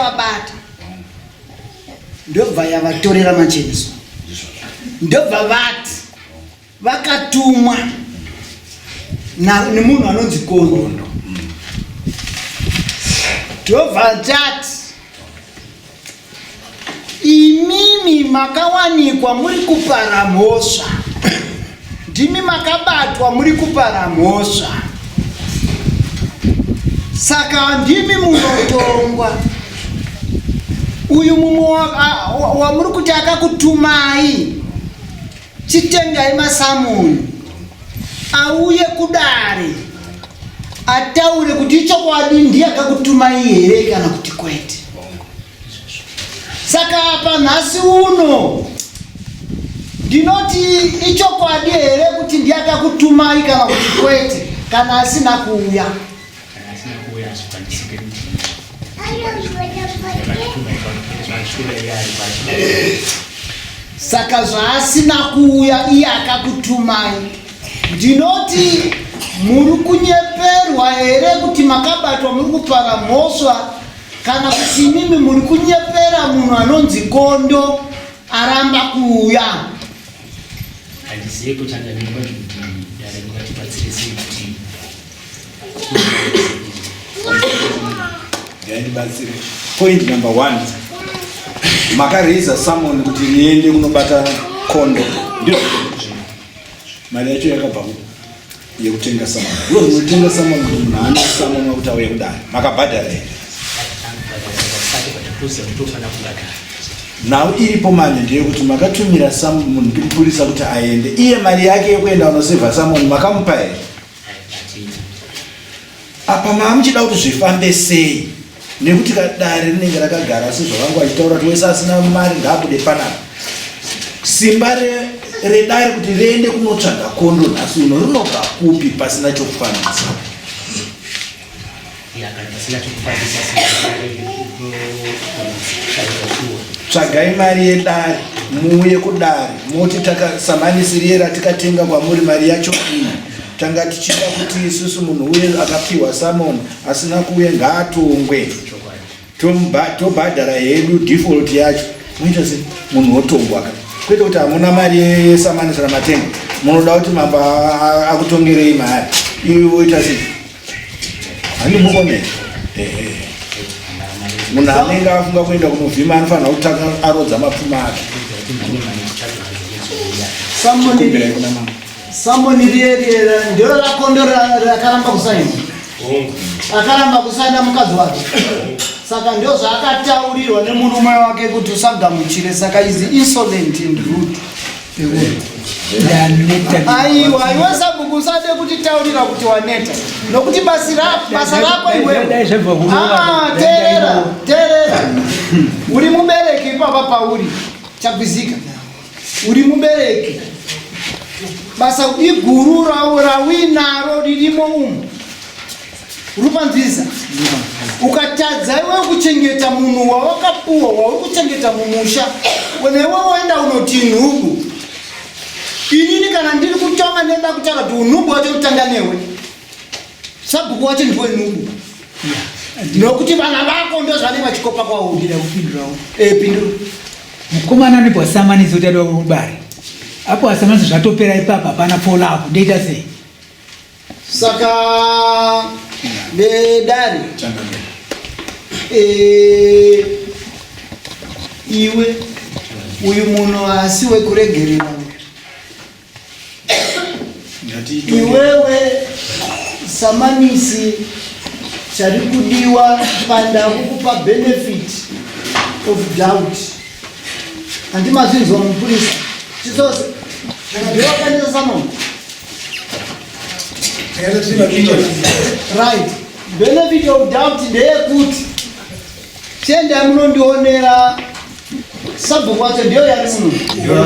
vabata ndobva yavatorera macheniso ndobva vati vakatumwa nemunhu anonzi kondo ndobva tati imimi makawanikwa muri kupara mhosva Ndimi makabatwa muri kupara mhosva, saka ndimi munotongwa. Uyu mumwe wamuri kuti akakutumai, chitengai masamuni auye kudare ataure kuti ichokwadi ndiye akakutumai here kana kuti kwete. saka apa nhasi uno ndinoti ichokwadi here kuti ndiye akakutumai kana kuti kwete kana asina kuuya saka zvaasina kuuya iye akakutumai ndinoti muri kunyeperwa here kuti makabatwa muri kupara mhosva Kana kuti imimi muri kunyepera munhu anonzi kondo aramba kuuya. Handizive kutanga nemba kuti dare mukatibatsire sei kuti ndibatsire. Point number one, makaraiza someone kuti niende kunobata kondo, ndizvo mari yacho yakabva kupi? yekutenga sama no munotenga sama munhu haana sama mwakuti auye kudai makabhadhara here nhau iripo manje ndeyekuti makatumira samu munhu ndimupurisa kuti aende iye mari yake yekuenda unosevha samoni makamupa here apa maamuchida kuti zvifambe sei nekuti kadare rinenge rakagara asi zvavangu vachitaura kuti wese asina mari ngaabude panapa simba redare kuti riende kunotsvaga kondo nhasi uno rinobva kupi pasina chokufambisa tsvagai mari yedare muuye kudare moti takasambanisiriye ratikatenga kwamuri mari yacho ii tanga tichida kuti isusu munhu uye akapiwa samon asina kuuya ngaatongwe tobhadhara hedu default yacho muita se munhu wotongwa ka kwete kuti hamuna mari yesamanisira matenga munoda kuti mambo akutongerei mari iwe woita se handimukomei munhu anenge afunga kuenda kunovhima anofanira kutanga arodza mapfuma ake Samboni riye riye ndiro rakondo rakaramba kusaina. Akaramba kusaina mukadzi wake. Saka ndio zvaakataurirwa nemurume wake kuti usagamuchire saka is insolent and rude. Aiwa, aiwa sabhuku usade kuti taurira kuti waneta. Nokuti basi rako, basa rako iwewe. Ah, terera, terera. Uri mubereki ipapa pauri. Chapizika. uri mubereki basa iguru rawinaro ririmo umu rupanziza ukatadza iwe kuchengeta munhu wawakapuwa wauri kuchengeta mumusha wena iwe woenda unoti nhubu inini kana ndiri kutonga ndoda kutaura kuti unhubu wacho kutanga newe sabhuku wacho ndiwe nungu nokuti vana vako ndozvane vachikopa kwaudira kupindurawo eh, pindura mukomana anobva asamanisi kuti adiwa kubari apo asamanisi zvatopera ipapa hapana folavo ndoita sei saka vedari eh, iwe uyu munhu asi wekuregerera Iwewe samanisi chari kudiwa panda kukupa benefit of doubt handimazinzwa mupurisa chisose ndiwe wakanisa samon right benefit of doubt ndeyekuti tienda munondionera sabhuku wacho ndiyo yari muno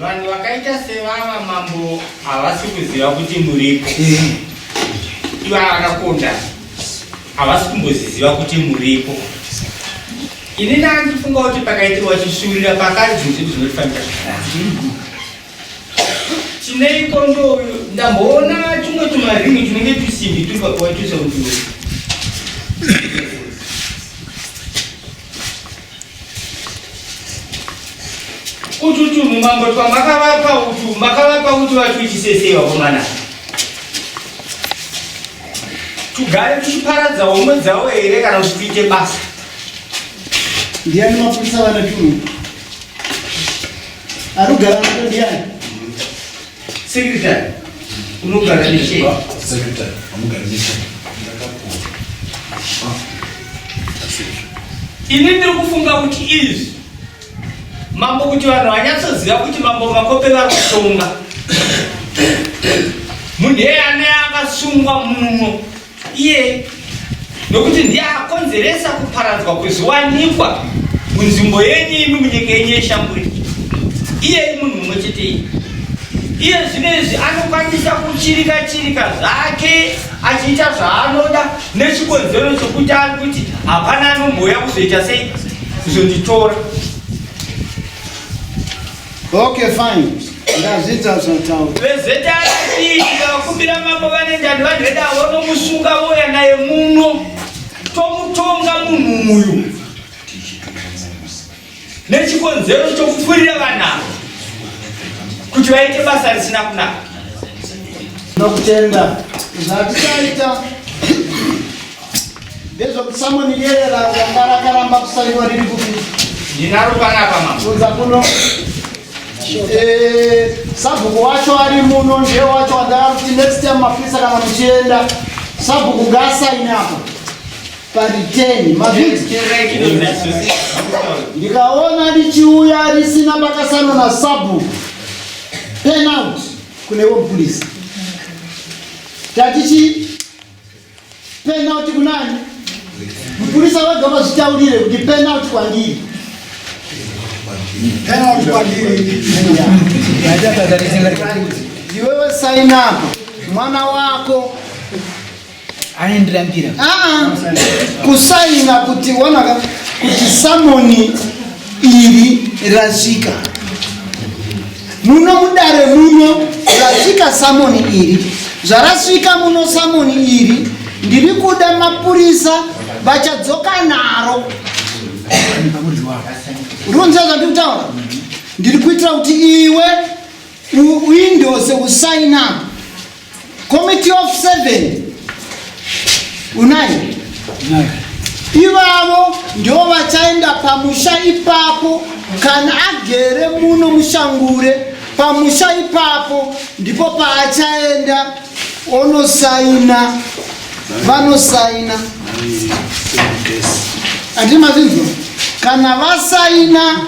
vanhu vakaita sevava mambo havasi kuziva kuti muripo ivava vakakonda havasi kumboziziva kuti muripo ini ndandifunga kuti pakaitirwa chishuurira pakanzi zvinhu zvedu zvinotifanira zvakanaka Chineiko ndo ndamboona chimwe tumaringi tunenge tusimbi turi pakuwatisa kuti utu tunhu mambo twamakavapa utu makavapa utu vatuitisesei vakomana tugare tuchiparadza homwe dzavo here kana kuti tuite basa ndiani mapurisa vana tunhu Arugara mwana ndiani? Secretary. Unogara nechei? Secretary. Unogara nechei? Ini ndiri kufunga kuti izvi mambo kuti vanhu vanyatsoziva kuti mambo makope vari kutonga munhu eye ane akasungwa muno iye nokuti ndiye akonzeresa kuparadzwa kwezviwanikwa munzvimbo yenyu imi munyika yenyu yeshamburi iye imunhu mumwe chetei iye zvino izvi anokwanisa kuchirika chirika zvake achiita zvaanoda nechikonzero chokuti ari kuti hapana anombouya kuzoita sei kuzonditora Okay fine. Ndazita zvatawo. Vezeta ati ndakubira mambo vane ndani vanhu veda wono musunga woya naye muno. Tomutonga munhu uyu. Nechikonzero chokufurira vana. Kuti vaite basa risina kunaka. Ndokutenda. Zvatisaita. ndezvekusamoniyerera ranga rakaramba kusaiwa riri kupi ndinaro panapa maunza kuno eh, sabhuku wacho ari muno ndiye wacho wandava kuti next time mapurisa kana muchienda sabhuku ngaasaine apa pariteni mavhiti ndikaona richiuya risina pakasano na sabhuku penalty kune womupurisa tatichii Penalty kunani? Mupurisa wega vazvitaurire kuti penalty kwandiri. Penalty kwandiri. Iwewe sign up. Mwana wako aendirambira. Ah, ah. kusaina kuti wana kuti samoni iri rasvika. Muno mudare muno zvasvika samoni iri zvarasvika muno samoni iri ndiri kuda mapurisa vachadzoka naro runza zvandiri kutaura ndiri kuitira kuti iwe uindose usainapo Committee of seven unai ivavo ndivo vachaenda pamusha ipapo kana agere muno mushangure pamusha ipapo ndipo paachaenda onosaina vanosaina andii mazinzwa kana vasaina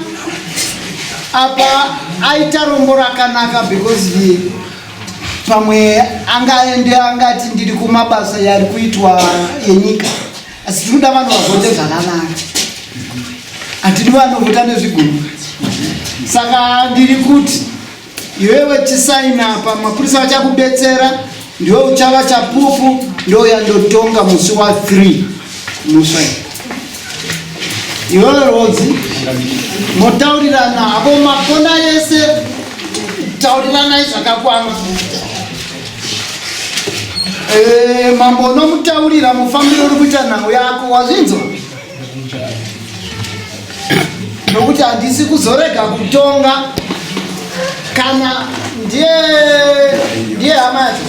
apa aita rombo rakanaka because ye pamwe angaende angati ndiri kumabasa yari kuitwa enyika asi tinoda vanhu vavhote zvakanaka hatidi vanovhota nezvigumbu saka ndiri kuti iwewe chisaina apa mapurisa vachakubetsera ndiwe uchava chapupu ndouya ndotonga musi wa 3 muswai Iwewe Rodzi, motaurirana hapo makona yese, tauriranai zvakakwana. Eh, mambo unomutaurira mufambiro uri kuita nhau yako, wazvinzwa? Nokuti handisi kuzorega kutonga kana ndiye ndiye hama yacho.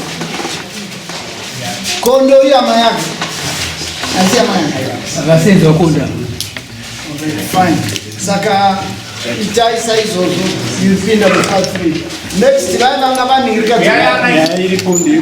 Kondo iya mayanga. Asi mayanga. Akasenzwa kondo. Fine. Saka itai saizvozvo yipinda mufa3 next vaya vanga vanhirika iri kondo